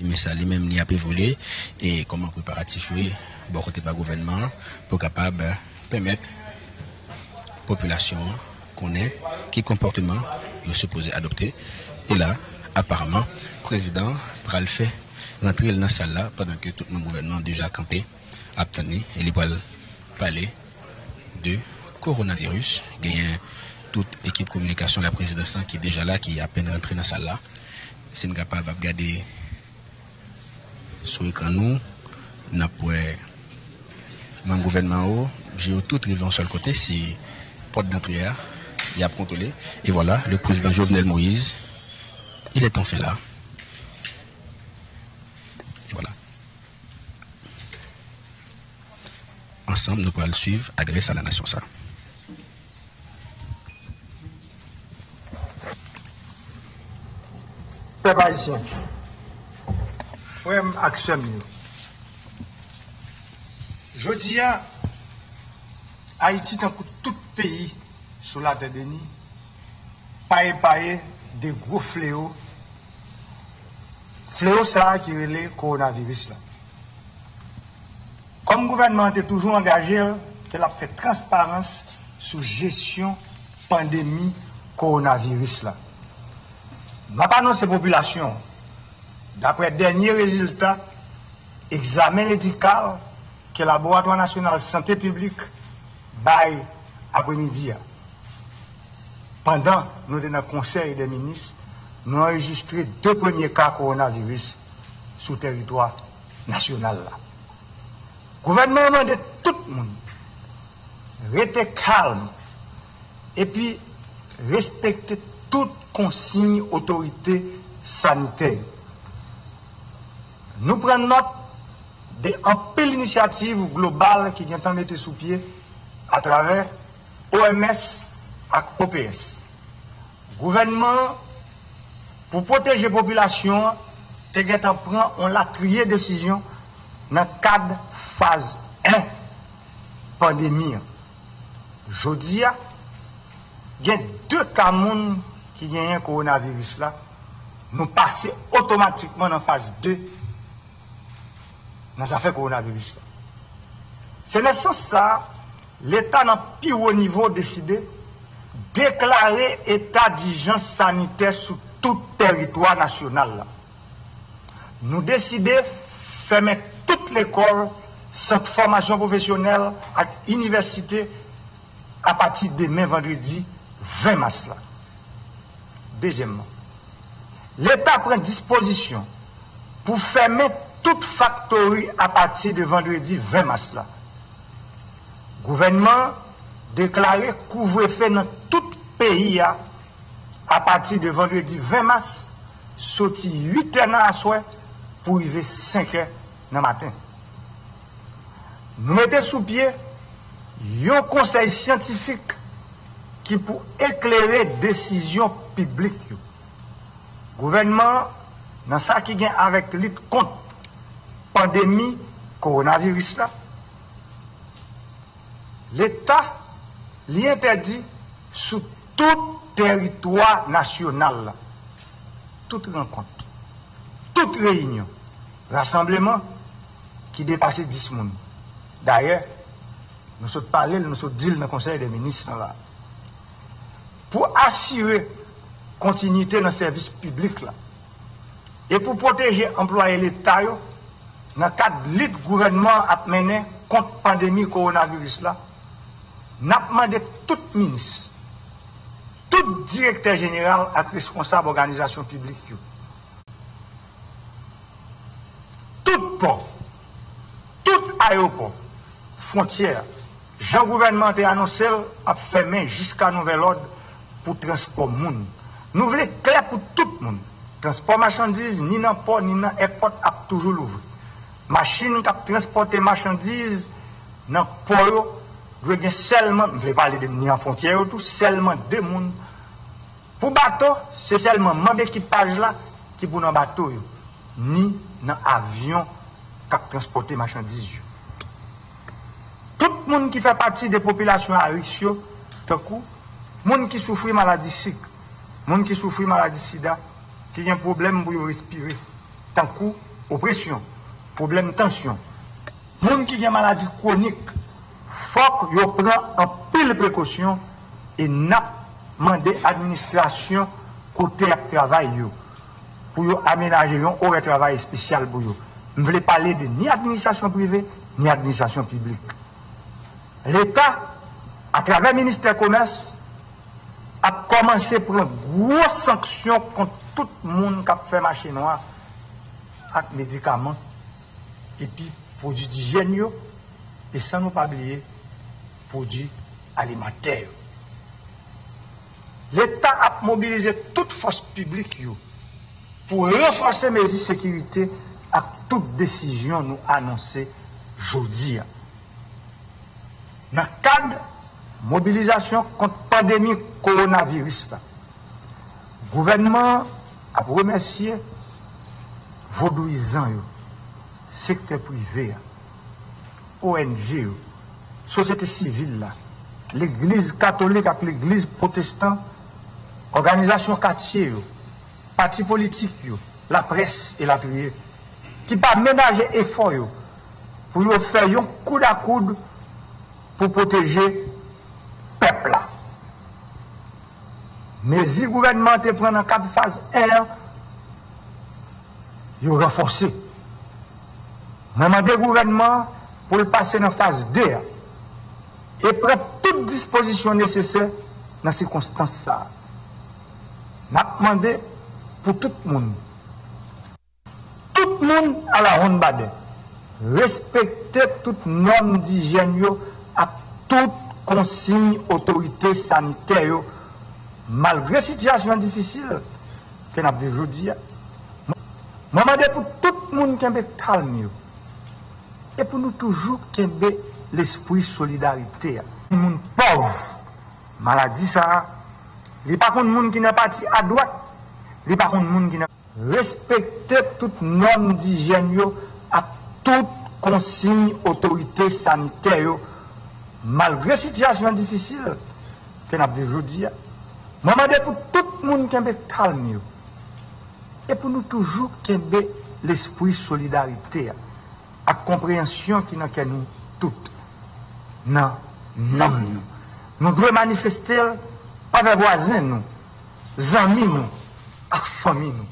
Limit sa li menm li ap evolye e kòman preparatif yo ye bò kote pa gouvènman an pou kapab pèmèt popilasyon an konnen ki konpòteman yo sipoze adopte e la aparamman prezidan pral fè rantre l nan sal la pandan ke tout manm gouvènman an deja kanpe. ap tann li e li pral pale de Coronavirus. Genyen tout ekip kominikasyon la prezidans lan ki deja la ki apenn rantre nan sal la. Si n kapab ap gade sou ekran nou, n ap wè manm gouvènman yo, je yo tout rive yon sèl kote si pòt dantre a y ap kontwole. E vwala le prezidan Jovenel Moise il est enfin là. Ansanm nou pral swiv adrès a la nasyon sa. Pèp ayisyen, frè m ak sè m yo, jodi a Ayiti tankou tout peyi sou latè beni pa epaye de gwo fleo, Flewo sa a ki rele kowonaviris la. Kòm gouvènman an te toujou angaje l ke l ap fè transparans sou jesyon pandemi kowonaviris la, m ap anonse popilasyon an, daprè dènye rezilta egzamen medikal ke Laboratwa Nasyonal Sante Piblik bay apremidi a, Pandan nou te nan konsèy dè minis, nou anrejistre 2 premye ka kowonaviris sou tèritwa nasyonal la. Gouvènman an mande tout moun rete kalm epi respekte tout konsiy otorite sanitè yo. Nou pran nòt de anpil inisyativ global ki gentan mete sou pye atravè OMS ak OPS. Gouvènman an, pou pwoteje popilasyon an, te gentan pran yon latriye desizyon nan kad faz 1 pandemi an. Jodi a, gen 2 ka moun ki genyen kowonaviris la, nou pase otomatikman nan faz 2. nan zafè kowonaviris la. Se nan sans sa, Leta nan pi wo nivo deside deklare eta dijans sanitè sou tout tèritwa nasyonal la. Nou deside fèmen tout lekòl, sant fòmasyon pwofesyonèl ak inivèsite, apati demen vandredi 20 mas la. Dezyèmman, Leta pran dispozisyon pou fèmen tout faktori apati de vandredi 20 mas la. Gouvènman an deklare kouvrefe nan tout peyi a apati de vandredi 20 mas soti 8 è nan aswè pou rive 5 è nan maten. Nou mete sou pye yon konsèy syantifik ki pou eklere desizyon piblik yo. Gouvènman an, nan sa ki gen avèk lit kont pandemi kowonaviris la, Leta li entèdi sou tout teritwa nasyonal la, tout rankont, tout reyinyon, rasanbleman ki depase 10 moun. Dayè, nou sot pale l, nou sot di l nan Konsèy dè Minis lan la. Pou asire kontinyite nan sèvis piblik la e pou pwoteje anplwaye Leta yo nan kad lit gouvènman an ap mennen kont pandemi kowonaviris la, n ap mande tout minis, tout direktè jeneral ak responsab òganizasyon piblik yo, Tout pò, tout ayewopò, fwontyè, jan gouvènman an te anonse l, ap fèmen jiska nouvèl òd pou transpò moun. Nou vle klè pou tout moun, transpò machandiz ni nan pò ni nan èpòt ap toujou louvri. Machin k ap transpòte machandiz nan pò yo dwe gen sèlman, m vle pale de ni nan fwontyè yo tou, sèlman 2 moun. Pou bato, se sèlman manb ekipaj la ki pou nan bato yo, ni nan avyon k ap transpòte machandiz yo. Tout moun ki fè pati de popilasyon a risk yo, tankou, moun ki soufri maladi sik, moun ki soufri maladi sida, ki gen pwoblèm pou yo respire, tankou opresyon, pwoblèm tansyon, moun ki gen maladi kwonik, fòk yo pran anpil prekosyon e nap mande administrasyon kote yap travay yo pou yo amenaje yon orè travay espesyal pou yo. M vle pale de ni administrasyon prive, ni administrasyon piblik. Leta, atravè ministè komès, ap kòmanse pran gwo sanksyon kont tout moun kap fè mache nwa ak medikaman epi pwodui dijyèn yo, e san nou pa bliye pwodui alimantè yo. Leta ap mobilize tout fòs piblik yo pou ranfòse mezi sekirite ak tout desizyon nou anonse jodi a. Nan kad mobilizasyon kont pandemi kowonaviris la, gouvènman an ap remèsye vodouyizan yo, sektè prive a, ONG yo, sosyete sivil la, legliz katolik ak legliz pwotestan, òganizasyon katye yo, pati politik yo, laprès, elatriye, ki pa menaje efò yo pou yo fè yon koudakoud pou pwoteje pèp la. Mezi gouvènman an te pran nan kad Faz 1 an yo ranfòse. Mwen mande gouvènman an pou l pase nan faz 2 a e pran tout dispozisyon nesesè nan sikonstans sa a. N ap mande pou tout moun, tout moun alawonnbadè, respekte tout nòm dijyèn yo ak tout konsiy otorite sanitè yo malgre sitiyasyon an difisil. ke n ap viv jodi a, mwen mande pou tout moun kenbe kalm yo e pou nou toujou kenbe lespri solidarite a. Moun pòv, maladi sa a, li pa konn moun ki nan pati adwat, li pa konn moun ki nan. Respekte tout nòm dijyèn yo ak tout konsiy otorite sanitè yo malgre sitiyasyon an difisil. ke nap viv jodi a, mwen mande pou tout moun kenbe kalm yo e pou nou toujou kenbe lespri solidarite a ak konpreyansyon ki nan kè nou tout, nan nanm nou. Nou dwe manifeste l anvè vwazen nou, zanmi nou ak fanmi nou.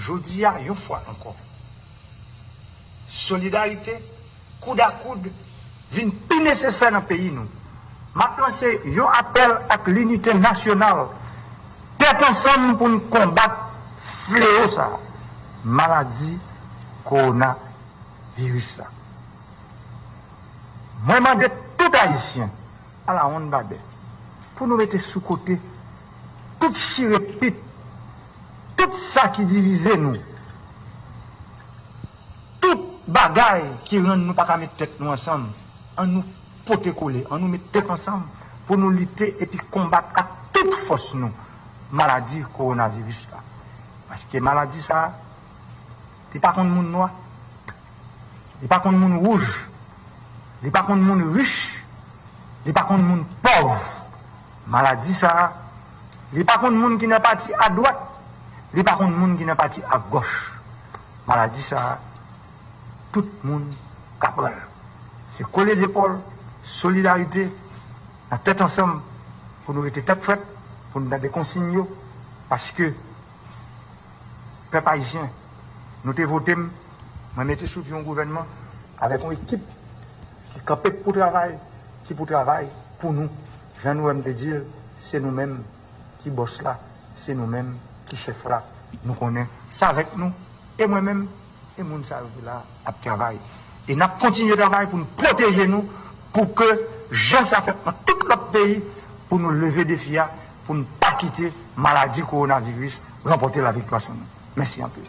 Jodi a yon fwa ankò, solidarite. Koudakoud vin pi nesesè nan peyi nou. M ap lanse yon apèl ak linite nasyonal, tèt ansanm pou n konbat flewo sa a, maladi kowona viris la. Mwen mande tout Ayisyen alawonnbadè pou nou mete sou kote tout chire pit, tout sa ki divize nou. Tout bagay ki rann nou pa ka met tèt nou ansanm, an nou pote kole, an nou met tèt ansanm pou nou lite epi konbat ak tout fòs nou maladi kowonaviris la. Paske maladi sa a, li pa konn moun nwa, li pa konn moun wouj, li pa konn moun rich, li pa konn moun pòv. Maladi sa a, li pa konn moun ki nan pati adwat, li pa konn moun ki nan pati agòch. Maladi sa a, tout moun ka pran l. Se kole zepòl, solidarite, nan tèt ansanm pou nou rete tèt frèt, pou nou tande konsiy yo, paske pèp ayisyen, nou te vote m, mwen mete sou pye yon gouvènman avèk yon ekip. Ki kanpe k pou travay, ki pou travay pou nou. Jan nou wè m te di l, se nou menm ki bòs la, se nou menm ki chèf la. Nou konnen s avèk nou, e mwen menm, e moun sa yo ki la ap travay. E n ap kontinye travay pou n pwoteje nou pou ke jan sa fèt nan tout lòt peyi, pou nou leve defi a, pou n pa kite maladi kowonaviris ranpòte laviktwa sou nou. Mèsi anpil.